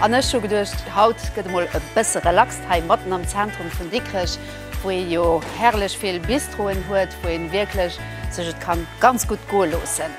An ech hu geduecht, haut gëtt emol e bësse relaxt hei matten am Zentrum vun Dikrech, wou ee jo herrlech vill Bistroen huet, wou een wierklech sech et kann ganz gutt goe loossen.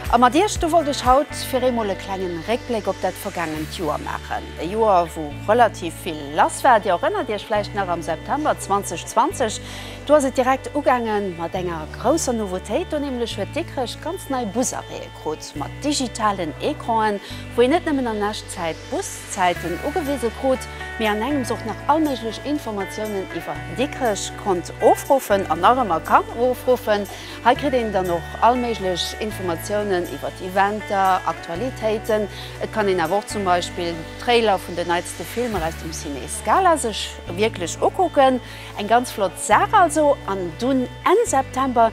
A mat iech do wollt ech haut fir eemol e klengen Réckbléck op dat vergaangent Joer maachen. E Joer wou relativ vill lass war. Dir erënnert iech vläicht nach am September 2020, do ass et direkt ugaangen mat enger grousser Nouveautéit, do nämlech huet Dikrech ganz nei Busarrêt. Krut mat digitalen Ecranen, wou een net nëmmen an Echtzäit d'Buszäiten ugewise krut, mee an engems och nach all méiglech Informatiounen iwwer Dikrech konnt ofruffen an nach ëmmer kann ofruffen. Hei kritt een dann och all méiglech Informatiounen iwwer Eventer, Aktualitéiten. Et kann een awer och zum Beispill Trailer vun den neitste Filmer aus dem Ciné Scala sech wierklech ukucken. Eng ganz flott Saach also. An dunn Enn September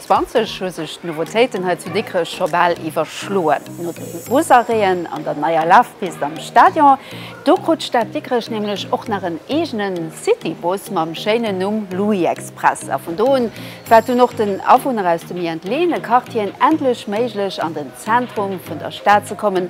20 hu sech d'Nouveautéiten hei zu Dikrech scho bal iwwerschloen. No de Busarrêten an der neier Lafpist am Stadion, do krut d'Stad Dikrech nämlech och nach en eegene Citybus mam schéinen Numm Louis-Express. A vun do un war et dunn och den Awunner aus de méi entleeëne Quartieren endlech méiglech an den Zentrum vun der Stad ze kommen,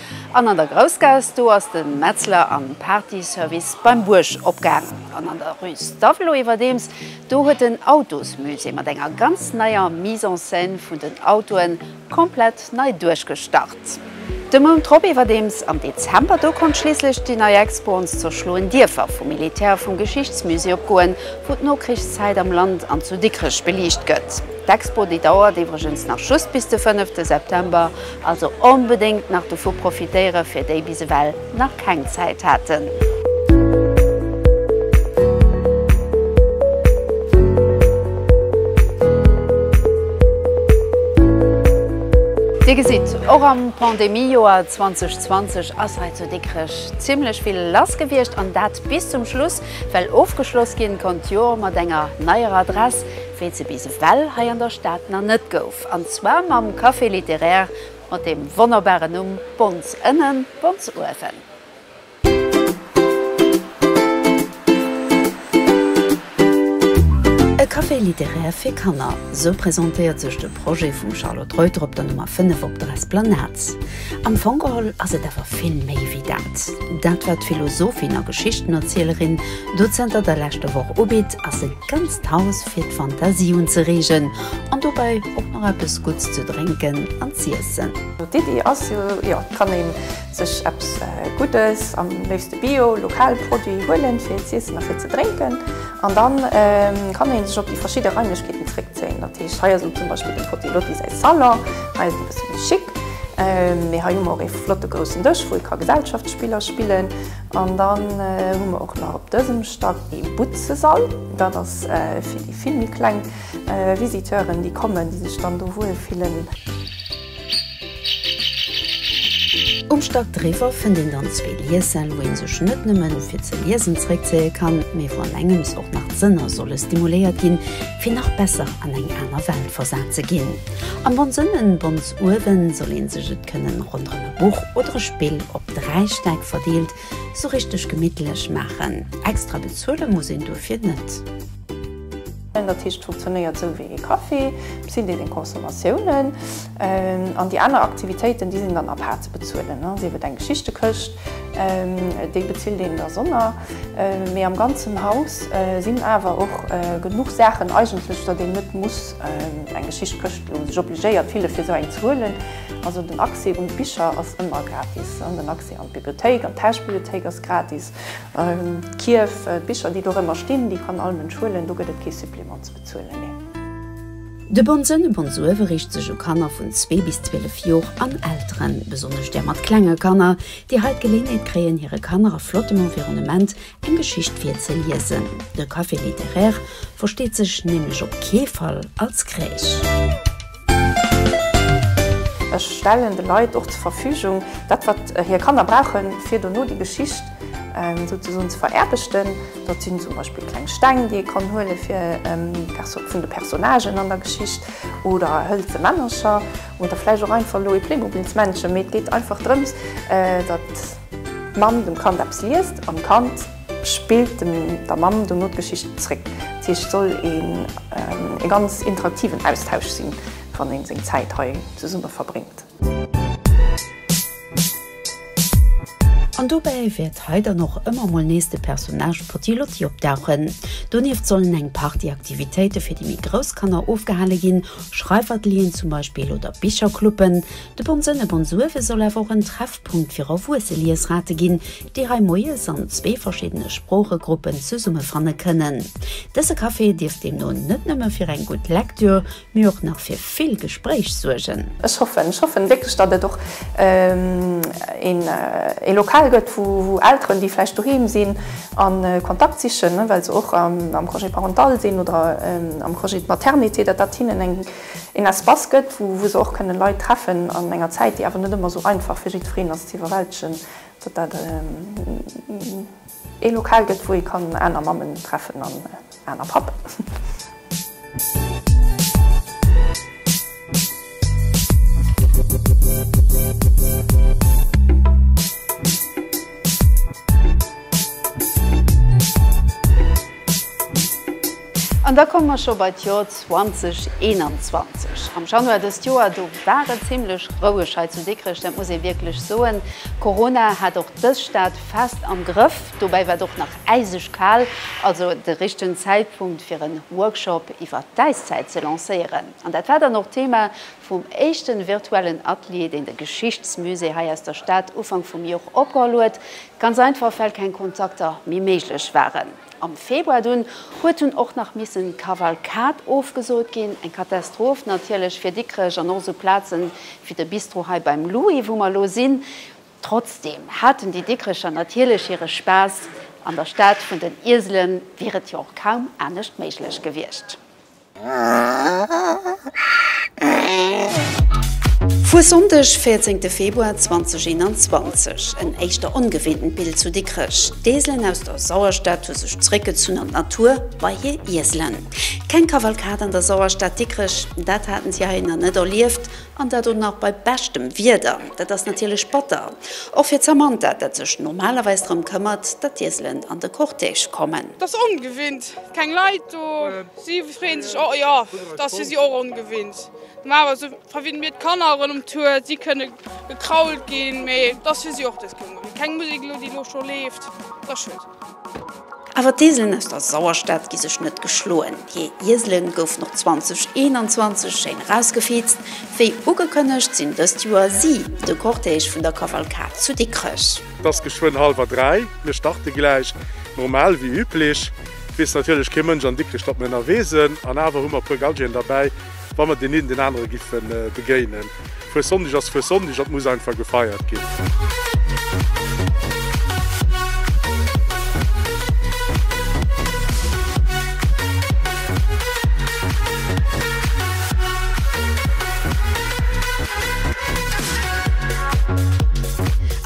An an der Groussgaass, do ass de Metzler an Partyservice beim Buerg opgaang. An an der Rue Stavelot iwwerdeems, do huet den Autosmusée mat enger ganz neier Mise en scène vun den Autoen komplett nei duerchgestart. De Mount drop iwwerdeems, am Dezember, do konnt schliisslech déi nei Expo Ons zerschloen Dierfer vum Militär vum Geschichtsmusée opgoen, wou d'Nokrichszäit am Land an zu Dikrech beliicht gëtt. D'Expo, déi dauert iwwregens nach just bis de fënnefte September, Also onbedéngt nach dovu profitéiere fir déi bis ewell nach keng Zäit haten. Dir gesitt, och am Pandemiejoer 2020 ass hei zu Dikrech zimmlech vill lass gewiescht an dat bis zum Schluss, well ofgeschloss ginn konnt d'Joer mat enger neier Adress, wéi et se bis ewell hei an der Stad nach net gouf. An zwar mam Café littéraire mat dem wonnerbaren Numm Bons Ënnen, Bons Uewen. E Café littéraire fir Kanner, sou presentéiert sech de Projet vum Charlotte Reuter op der Nummer 5 op der Esplanade. Am Fong geholl ass et awer vill méi wéi dat. Dat, wat d'Philosophin a Geschichtenerzielerin do zënter der leschter Woch ubitt, ass e ganzt Haus fir d'Fantasie unzereegen an dobäi och nach eppes Gutts ze drénken an z'iessen. D'Iddi ass jo, jo et kann ee sech eppes Guddes, am léifste Bio, lokal Produit huelen fir z'iessen a fir ze drénken an dann kann ee sech op déi verschidde Raimlechkeeten zréckzéien. Dat heescht hei ass zum Beispill dem Frotti Lotti säi Salon, hei ass et e bësse méi chic, mee hei hu mer och ee flotte groussen Dësch wou ee ka Gesellschaftsspiller spillen. An dann hu mer och nach op dësem Stand ee Butzesall. Dat ass fir déi vill méi kleng Visiteuren, déi kommen, déi sech dann do wuel fillen. Um Stack driwwer fënnt een dann zwee Liessäll, wou ee sech net nëmme fir ze liesen zeréckzéie kann, mee wou an engems och nach d'Sënner solle stimuléiert ginn, fir nach besser an eng aner Welt versat ze ginn. Am Bonn Sënn. Uewen soll een sech et kënnen ronderem e Buch oder e Spill op 3 Stäck verdeelt sou richteg gemittlech maachen. Extra bezuele muss een duerfir net. Dat heescht, et funktionéiert sou wéi ee Café, bis hin déi seng Consommatiounen. An déi aner Aktivitéiten, déi sinn dann à part ze bezuelen, sief et eng Geschichtekëscht, déi bezilt een dersonner. Mee am ganzen Haus sinn awer och genuch Saachen eigentlech, datt een net muss. Eng Geschicht këscht un sech obligéiert fille fir sou eng ze huelen. Also den Accès un d'Bicher ass ëmmer gratis. Den Accès an d'Bibliothéik, an d'Tauschbibliothéik ass gratis. D'Kierf, d'Bicher déi dorëmmer stinn, déi kann all Mënsch huelen, do gëtt et kee Supplément ze bezuelen, nee. De Bon Sënn, Bon Suëve, riicht sech u Kanner vun zwee bis 12 Jor an Elteren, besonnesch där mat klenge Kanner, déi hei d'Geléenheet kréien hire Kanner a flottem Environnement Eng Geschicht fir ze liesen. De Café littéraire versteet sech nämlech op kee Fall als Kräich. Ech stellen de Leit och zur Verfügung dat, wat hir Kanner brauchen, fir dono déi Geschicht souzesoen ze veraarbechten. Dat sinn zum Beispill kleng Steng, déi ee kann huelen, fir d'Personne vun de Personnagen an der Geschicht, oder hëlze Männercher, oder vläicht och einfach elo ee Playmobilsmännchen. Mee et geet einfach drëms, datt. D'Mamm dem Kand eppes liest an d'Kand spillt dem der Mamm dono d'Geschicht zréck. Dat heescht, et soll een e ganz interaktiven Austausch sinn, wann een seng Zäit hei zesumme verbréngt. An dobäi wäert hei dann och ëmmer mol nees de Personnage Potty-Lotty opdauchen. Donieft sollen eng Partie Aktivitéite fir déi méi grouss Kanner ofgehale ginn, Schreifatelieren zum Beispill oder Bichercluben, De Bonsënn e Bonsuewe soll awer och en Treffpunkt fir erwuesse Liesrate ginn, déi hei moies an zwee verschiddene Sproochegruppen zesummefanne kënnen. Dëse Café dierft deemno net nëmme fir eng gutt Lektür, mee och nach fir vill Gespréich suergen. Ech hoffen, ech hoffen wierklech, datt et och ee Lokal gëtt, wou Elteren, déi vläicht doheem sinn a Kontakt sichen, well se och am Congé parental sinn oder am Congé de maternité, datt dat hinnen eng. een Espace gëtt, wou wou se och kënne Leit treffen an enger Zäit, déi awer net ëmmer esou einfach fir jiddwereen ass ze iwwerwältegen, datt dat ee Lokal gëtt, wou ee kann aner Mammen treffen an aner Pappen. An da komme mer scho bei d'Jor 2021. Am Januar dëst Joer, do war et zimmlech roueg hei zu Dikrech, dat muss ee wierklech soen. Corona hat och dës Stad fest am Grëff. Dobäi war et och nach äiseg kal, also de richtegen Zäitpunkt fir en Workshop iwwer d'Äiszäit ze lancéieren. An dat war dann och d'Thema vum éischten virtuellen Atelier, deen de Geschichtsmusée hei aus der Stad Ufank vum Jor opgeholl huet, ganz einfach well keng Kontakter méi méiglech waren. Am Februar dunn huet dunn och nach missen d'Kavalkad ofgesot ginn. Eng Katastroph natierlech fir Dikrech an och sou Plazen wéi de Bistro hei beim Louis wou mer lo sinn. Trotzdem haten déi Dikrecher natierlech hire Spaass. An der Stad vun den Ieselen wier et jo och kaum anescht méiglech gewiescht. Vu Sonndeg 14 Februar 2021 en éischter ongewinntent Bild zu Dikrech. D'Eeselen aus der Sauerstad hu sech zeréckgezunn an d'Natur, bei hir Ieselen. Keng Kavalkad an der Sauerstad Dikrech, dat haten si hei nach net erlieft an dat och nach bei beschtem Wieder. Dat ass natierlech batter, och fir d'Samantha, dat sech normalerweis drëm këmmert, datt d'Ieselen an de Cortège kommen. T'ass ongewinnt, keng Leit do. Si freeën sech och, jo, et ass fir si och ongewinnt. Normalerweis hu verwinnen mir d'Kanner ronderëm d'Tour, si kënne gekrault ginn, mee et ass fir si och dës Kéier mol keng Musek elo, déi elo scho leeft. Et ass schued. Awer d'Ieselen aus der Sauerstad gi sech net geschloen. Hir Iesele goufen och 2021 schéin erausgefeezt. Wéi ugekënnegt sinn dëst Joer si de Cortège vun der Kavalkad zu Dikrech. Et ass geschwënn halwer dräi, mir starte gläich normal wéi üblech. Et weess natierlech kee Mënsch an Dikrech, datt mir ënnerwee sinn an awer hu mer e puer Galgien derbäi, wa mer deen een deen anere giffe begéinen. Fuessonndeg ass Fuessonndeg, dat muss einfach gefeiert ginn.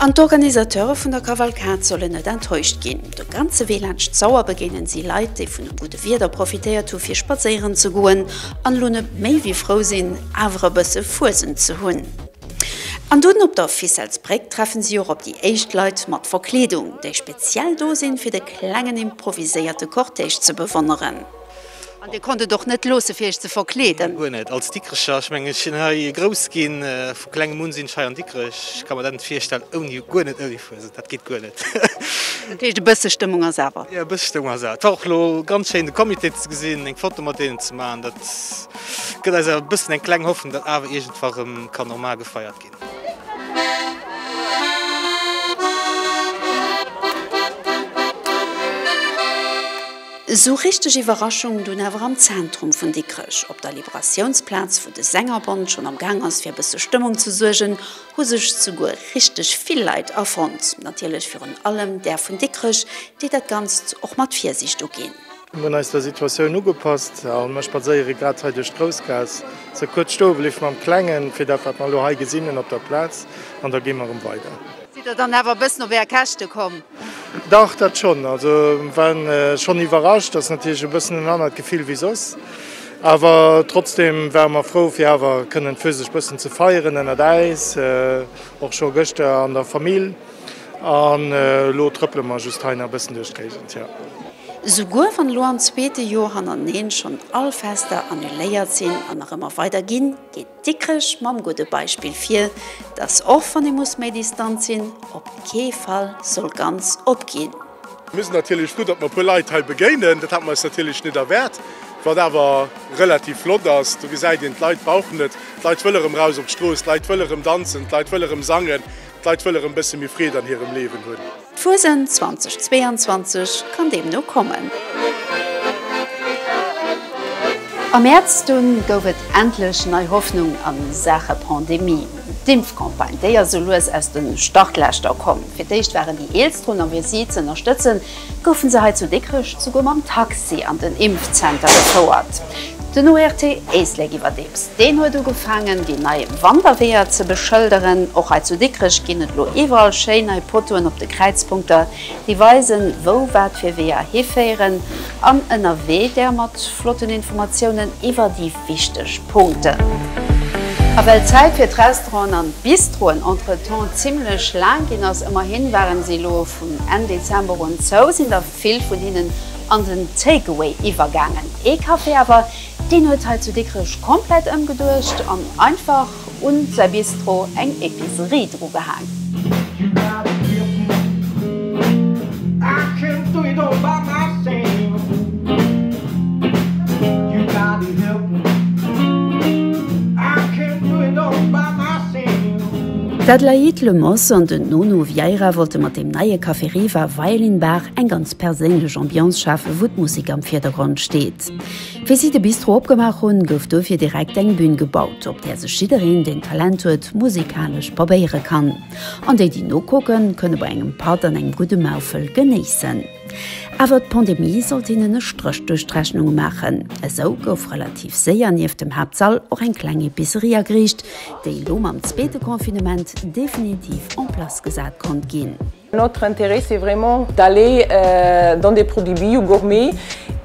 An d'Organisateure vun der Kavalkad sollen net enttäuscht ginn. De ganze Wee laanscht d'Sauer begéinen si Leit, déi vun dem gudde Wieder profitéiert hu fir spadséieren ze goen an elo net méi wéi frou sinn, awer e bësse Fuesent ze hunn. An dunn op der Ficelles-Bréck treffen si och op déi éischt Leit mat Verkleedung, déi speziell do sinn, fir de klengen improviséierte Cortège ze bewonneren. An Dir konnt et och net loossen, fir Iech ze verkleeden? Guer net. Als Dikrecher, ech mengen, ech sinn hei grouss ginn, vu klengem un sinn ech hei an Dikrech, ech ka mer dat net virstellen ouni, guer net ouni Fuesent, dat geet guer net. Dat heescht, e bësse Stëmmung ass awer? Jo, e bësse Stëmmung ass awer. Et war och elo ganz schéin, de Comité ze gesinn, eng Foto mat deenen ze maachen. Dat gëtt eis awer e bëssen eng kleng Hoffnung, datt awer iergendwa rëm ka normal gefeiert ginn. Esou richteg Iwwerraschung dunn awer am Zentrum vun Dikrech. Op der Liberatiounsplaz, wou de Sängerbond schonn am Gaang ass fir e bësse Stëmmung ze suergen, hu sech souguer richteg vill Leit afonnt. Natierlech virun allem där vun Dikrech, déi dat Ganzt och mat Virsiicht uginn. Mir hunn eis der Situatioun ugepasst a mir spadséiere grad hei duerch d'Groussgaass. Ze kuerz stoe bleift mam Klengen, fir dat wat mer elo hei gesinn hunn op der Plaz, an da gi mer erëm weider. Sidd der dann awer e bëssen op Är Käschte komm? Dach, dat schonn. Also war schonn iwwerrascht, dat ass natierlech e bëssen en anert Gefill wéi soss, awer trotzdeem ware mer frou fir awer kënnen d'Fuesegt bëssen ze feieren ënnert äis, och scho gëschter an der Famill. An elo trëppele mer just hei nach e bëssen duerch d'Géigend, jo. Souguer wann elo am zweete Joer hannerteneen schonn all Fester annuléiert sinn an nach ëmmer weider ginn, geet Dikrech mam gudde Beispill vir, datt och wann ee muss méi distant sinn, op kee Fall soll ganz opginn. Mir sinn natierlech frou, datt mer e puer Leit hei begéinen, dat hate mer eis natierlech net erwaart, wat awer relativ flott ass. Do gesäit een, d'Leit brauchen et, d'Leit wëlle rëm raus op d'Strooss, d'Leit wëlle rëm danzen, d'Leit wëlle rëm sangen. D'Leit wëlle rëm bësse méi Freed an hirem Leewen hunn. D'Fuesent 2022 kann deemno kommen. Am Mäerz dunn gouf et endlech nei Hoffnung a Saache Pandemie. D'Impfcampagne, déi ass esou lues aus de Startlächter komm. Fir d'éischt waren déi Eelst drun, a fir si z'ënnerstëtzen, goufe se hei zu Dikrech souguer mam Taxi an den Impfzenter gefouert. Den ORT Éislek iwwerdeems, deen huet ugefaangen, déi nei Wanderweeër ze beschëlderen. Och hei zu Dikrech ginn et elo iwwerall schéi nei Potoen op de Kräizpunkter, déi weisen, wou wat fir Weeër hiféieren. An ënnerwee där mat flotten Informatiounen iwwer déi wichteg Punkten. A well d'Zäit fir d'Restauranten an d'Bistroen entretemps zimmlech laang ginn ass, ëmmerhi waren se elo, Vun Enn Dezember un zou sinn der vill vun hinnen an den Takeaway iwwergaangen. Ee Café awer, deen huet hei zu Dikrech komplett ëmgeduecht an einfach un säi Bistro eng Epicerie drugehaang. D'Adelaïde Lemos an den Nono Vieira wollte mat deem neie Café Riva Violin Bar eng ganz perséinlech Ambiance schafen, wou d'Musek am Virdergrond steet. Wéi si de Bistro opgemaach hunn, gouf dofir direkt eng Bün gebaut, op där sech jiddereen, deen Talent huet, musekalesch probéiere kann. An déi, déi nokucken, kënne bei engem Patt an engem gudde Maufel genéissen. Awer d'Pandemie sollt hinnen e Stréch duerch d'Rechnung maachen. Esou gouf relativ séier nieft dem Haaptsall och eng kleng Epicerie ageriicht, déi elo mam zweete Confinement definitiv en place gesat konnt ginn. Notre intérêt c'est vraiment d'aller dans des produits bio, gourmets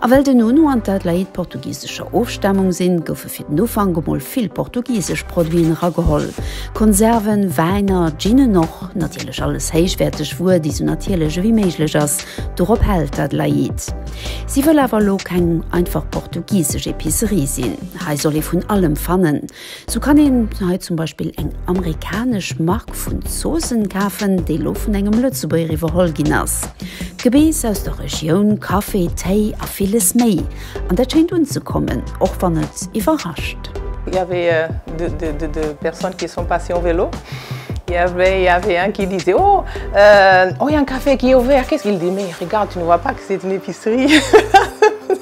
A well den Hunou an d'Adelaïde portugisescher Ofstamung sinn, goufe fir den Ufank emol vill portugisesch Produiten erageholl, Konserven, Wäiner, Ginen och, natierlech alles héichwäerteg Wuer, déi sou natierlech ewéi méiglech ass. Dorop hält d'Adelaïde. Si wëll awer elo keng einfach portugisesch Epicerie sinn. Hei soll ee vun allem fannen. Sou kann een hei zum Beispill eng amerikanesch Mark vun Zoossen kafen, déi lo vun engem Lëtzebuerger iwwerholl ginn ass. Gebeess aus der Regioun, Kaffi, Téi a villes méi. An dat schéint unzekommen, och wann et iwwerrascht. Il y avait de personnes qui sont passées en vélo, il y avait un qui disait oh, oh il y a un café qui est ouvert, qu'est ce qu'il dit, mais regarde, tu ne vois pas que c'est une épicerie.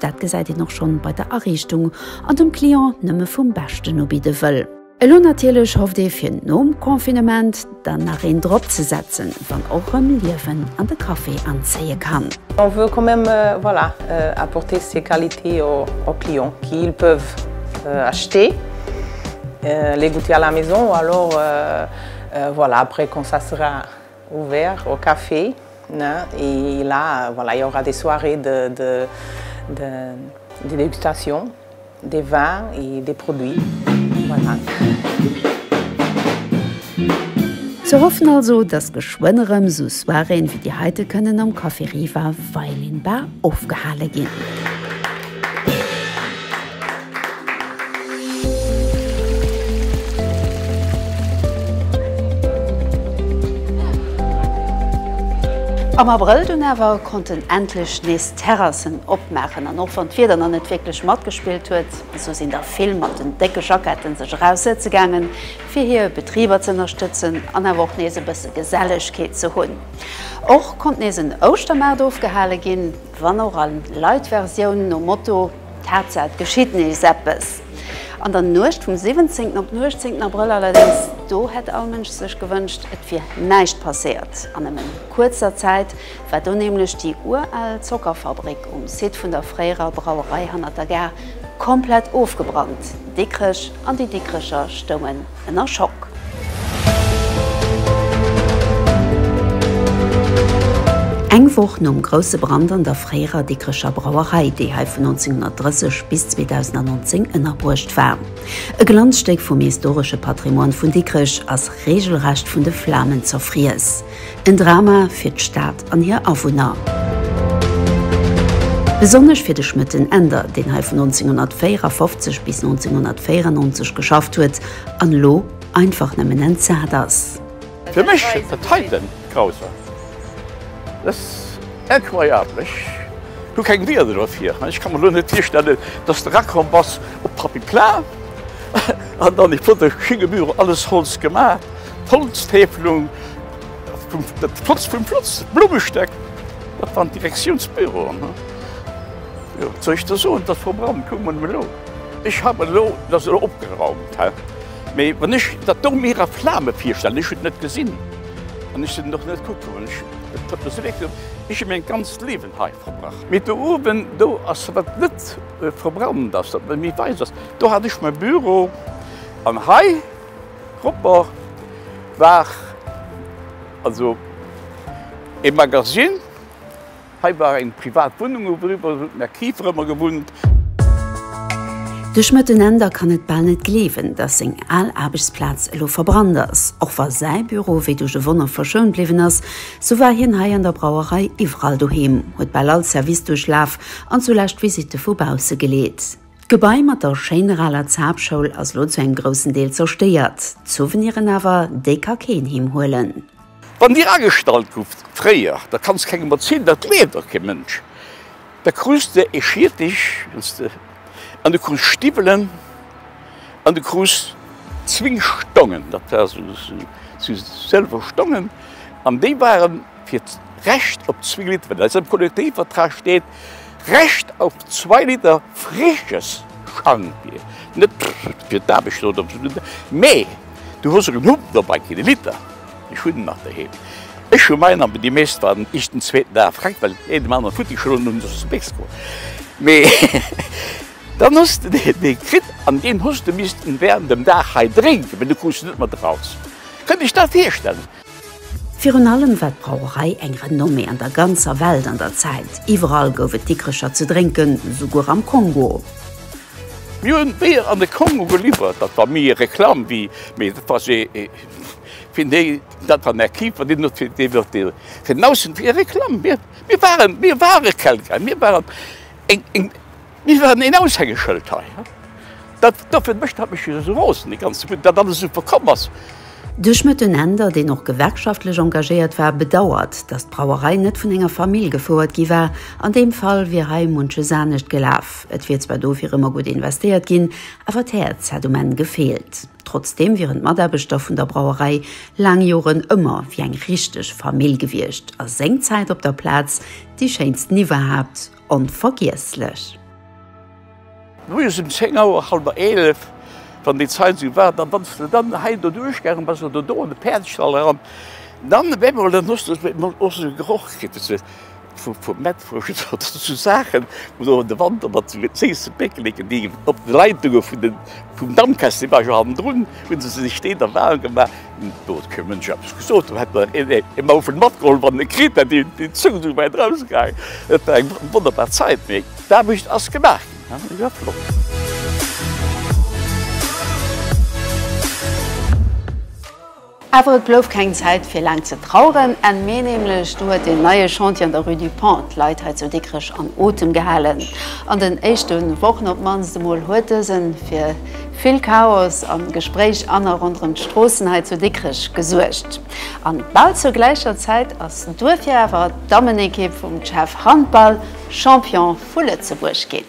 Dat gesäit een och schonn bei der Ariichtung, an dem Client nëmme vum Beschten ubidde wëll. Elo natierlech hofft ee fir nom Confinement dann nach een drop ze setzen, wann och rëm Liewen an de Café anzéie kann. On veut quand même voilà apporter ces qualités aux clients qu'ils peuvent acheter, les goûter à la maison ou alors voilà après quand ça sera. Ouvert au café ne et là voilà il y aura des soirées de de de de dégustation des vins et des produits voilà. Ze hoffen also, dass geschwënn erëm esou Soiréeën wéi déi heite kënnen am Café Riva Violin Bar ofgehale ginn. Am Abrëll dunn awer konnten endlech nees d'Terrassen opmaachen an och wann d'Wieder nach net wierklech matgespillt huet, esou sinn der vill mat den décke Jackette sech eraus sëtze gaangen, fir hir Betriber ze ënnerstëtzen an awer och nees e bësse Gesellegkeet ze hunn. Och konnt nees en Ouschtermaart ofgehale ginn. Wann och a light Versioun, nom Motto d'Haaptsaach et geschitt nees eppes. An der Nuecht vum 17 op den 18 Abrëll allerdéngs, do hätt all Mënsch sech gewënscht et wier näischt passéiert an nëmme kuerzer Zäit, war do nämlech déi ural Zockerfabrik um Site vun der fréierer Brauerei hannert der Gare komplett ofgebrannt. Dikrech an déi Dikrecher stounge ënner Schock. Eng Woch nom grousse Brand an der fréierer Dikrecher Brauerei, déi hei vun 1930 bis 2019 ënnerbruecht war. E Glanzstéck vum historesche Patrimoine vun Dikrech ass reegelrecht vun de Flamen zerfriess. En Drama fir d'Stad an hir Awunner. Besonnesch fir de Schmëtten Änder, deen hei vun 1954 bis 1994 geschafft huet an elo einfach nëmmen entsat ass. Fir mech et heiten grausam. Et ass incroyable. Ech hu keng Wieder dofir. Ech ka mer elo net virstellen, dass de erakomm bass op d'Papy Plain an dann, ich wurde hingeburen, alles Holz gemaach. d'Holztäfelung, dat Flotz vum Flotz, d'Blummestéck, dat waren d'Direktiounsbüroen. Jo, wat soll ech der soen, dat Programm, kuck mol elo, ech haff elo, et ass elo opgeraumt, hä? Mee wann ech dat do mir a Flame virstellen, ech hunn et net gesinn an ech sinn och net kucke goen, ech huet mer sou leed gedoen, ech hu mäin ganzt Liewen hei verbracht. Mee do uewen, do ass, wat net verbrannt ass, wat méi wäiss ass, do hat ech mäi Büro an hei, Roper war also e Magasinn. Hei war eng privat Wunnung, ueriwwer hunn d'Mercifer ëmmer gewunnt. De Schmëttenender kann et bal net gleewen, datt seng al Aarbechtsplaz elo verbrannt ass. Och wa säi Büro wéi duerch e Wonner verschount bliwwen ass, sou war hien hei an der Brauerei iwwerall doheem, huet bal all Service duerchlaf an zulescht d'Visitte vu bausse geleet. D'Gebai mat der schéiner aler Zaapschoul ass lo zu engem groussen Deel zerstéiert. D'Souveniren awer, déi ka keen heem huelen. Wann dir agestallt gouft fréier, da kanns kengem erzielen, dat gleeft och kee Mënsch. Da krus de ee Schiertech an du krus Stiwwelen an du krus zwéin Stongen, dat war sou sou sëlwer Stongen an déi waren. fir d'Recht op zwee Liter, wat eis am Kollektivvertrag steet, Recht auf zwei Liter frisches Schankbier, net fir d'Aarbecht oder op esou, mä du hues erëm Hunger dobäi, kee Liter, ech hunn en nach doheem, ech hu mäin, an déi meescht waren iech den zweeten Dag fréck, well een dem aneren futti geschloen hunn, sos de béis geworden, mä dann hues de dee kritt an deen hues de missten während dem Dag hei drénken, well du krus en net mat eraus. Kënnt iech dat virstellen? Virun allem war d'Brauerei eng Renommée an der ganzer Welt an der Zäit. Iwwerall gouf et Dikrecher ze drénken, souguer am Kongo. Mir hunn Bier an de Kongo geliwwert. Dat war méi ee Reklamm-Wee, mee dat war se fir déi, dat war mäi Keeper, deen huet fir deen huet dee fir den Aussenwee Reklamm. Mir, mir waren, mir ware Kelgräi, mir waren eng, eng. Mir waren een Aushängeschëld hei. Dat dofir mécht dat mech jo esou rosen, dee ganze Bund, datt alles esou verkomm ass. De Schmëtt den Änder, deen och gewerkschaftlech engagéiert war, bedauert, datt d'Brauerei net vun enger Famill gefouert gi war. An deem Fall wier hei munches anescht gelaf. Et wier zwar dofir ëmmer gutt investéiert ginn, awer d'Häerz hätt um Enn gefeelt. Trotzdeem wieren d'Mataarbechter vun der Brauerei laang Joren ëmmer wéi eng richteg Famill gewiescht a sengzäit op der Plaz déi schéinsten iwwerhaapt Onvergiesslech! Moies um 10 Auer, halwer 11, wann déi Zait esou war, dann wanns de dann hei do duerchgaangen bass oder do an de Päerdestall eran, dann op eemol, dann hues de op eemol och esou e Geroch kritt, esou vu, vu Mettwurscht oder esou Saachen, wou du an de Wanter mat esou Zéissepéckelen, déi op de Leitunge vun de, vum Dampkessel, déi war jo hannendrun, Hun se sech deen der Wahl gemaach, do huet keen Mënsch eppes gesot, do hätt mer een een Mauve matgeholl wann en e kritt hätt, déi Zung sou wäit rausgaangen. Et war eng wonnerbar Zäit, mee d'Aarbecht ass gemaach ginn, dat war iwwerhaapt flott. Awer et blouf keng Zäit fir laang ze traueren, Enn Mee nämlech, do huet deen neie Chantier an der Rue du Pont d'Leit hei zu Dikrech an Otem gehalen. An den éischte Wochen op d'mannst emol huet dësen fir Vill Chaos a Gespréich an a ronderëm d'Stroossen hei zu Dikrech gesuergt. An bal zur gläicher Zäit ass d'Duerf jo awer d'Dammenekipp vum CHEV Handball Champion vu Lëtzebuerg ginn.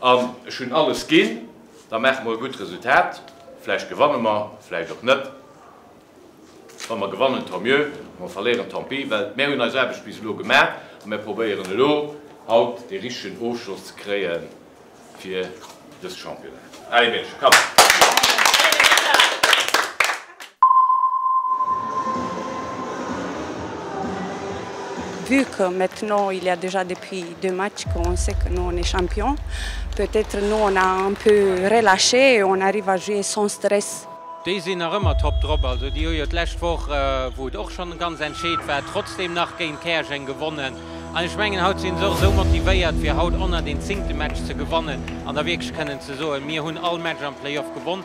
An ech hunn alles ginn, da maache mer e gutt Resultat. Vläicht gewanne mer, vläicht och net. Wa mer gewannen, tant mieux, wa mer verléieren, tant pis. Well mär hunn eis Aarbecht bis elo gemaach a mär probéieren elo haut dee richtegen Ofschloss ze kréie fir dës Championnat. Allez Meedche, kapp! Vu que maintenant il ya dejà depuis deux matchs qu'on sait que nous on est champion, peut être nous on a un peu relaché et on arrive à jouer sans stress. Déi sinn nach ëmmer top drop. Also déi hu jo d'lescht Woch, wou et och schonn ganz entscheet war, trotzdeem nach géint Käerjeng gewonnen. An ech mengen, haut sinn se och esou motivéiert, fir haut 110. Match ze gewannen an da wierklech kënnen ze soen, mir hunn all Match am Playoff gewonn.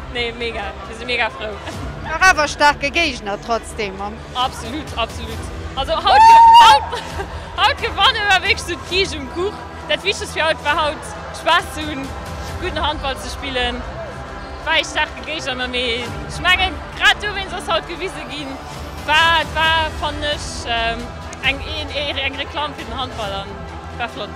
Nee mega, mir si mega frou. Dach awer staarke Géigner trotzdem am. Absolut, absolut. Also haut gewanne war wierklech sou d'Kiischt um Kuch. Dat wichtegst fir haut war haut Spaass ze hunn, gudden Handball ze spillen. War ee staarke Géigner mee ech mengen grad dowéinst ass haut gewise ginn war war fannen ech eng Ehren, eng Reklamm fir den Handball an war flott.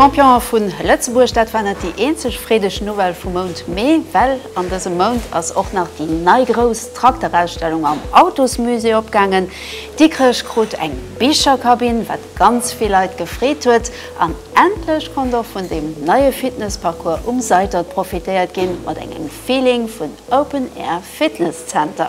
Champion vu Lëtzebuerg, dat war net déi eenzeg freedeg Nouvelle vum Mount Mee, well an dësem Mount ass och nach déi nei grouss Trakterausstellung am Autosmusée opgaangen. Dikrech krut eng Bicherkabinn, wat ganz vill Leit gefreet huet, an endlech konnt och vun deem neie Fitnessparcours um Seitert profitéiert ginn, mat engem Feeling vun Open Air Fitness Center.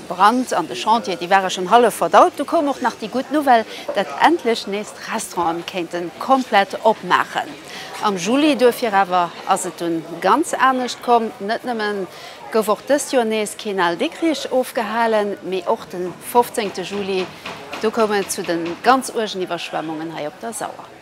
Brand an de Chantieren, déi ware schonn hallef verdaut. Du koum och nach déi gutt Nouvelle, datt endlech nees d'Restauranten kéinte komplett opmaachen. Am Juli duerfir awer ass et dunn ganz anescht komm. Net nëmme gouf och dëst Joer nees keen Al Dikkrich ofgehalen, mee och de fofzéngte Juli, do koum et zu de ganz uergen Iwwerschwemmungen hei op der Sauer.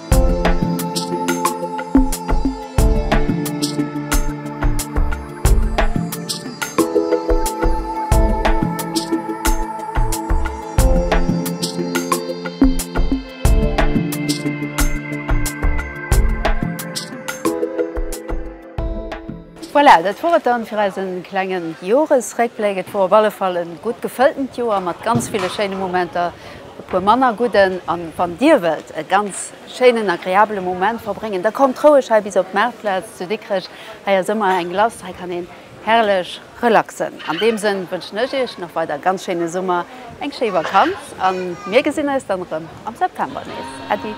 Voilà, dat wor et dann fir eisen klengen Joresréckbléck. Et wor op alle Fall en gutt gefëlltent Joer mat ganz ville schéine Momenter. e puer manner gudden a wann Dir wëllt e ganz schéinen, agreabele Moment verbréngen, da kommt roueg hei bis op d'Maartplaz zu Dikrech. Hei ass ëmmer eng Glace, hei kann een herrlech relaxen. An deem Sënn wënschen ech Iech nach weider e ganz schéine Summer, eng schéi Vakanz a mir gesinn eis dann erëm am September nees. Äddi.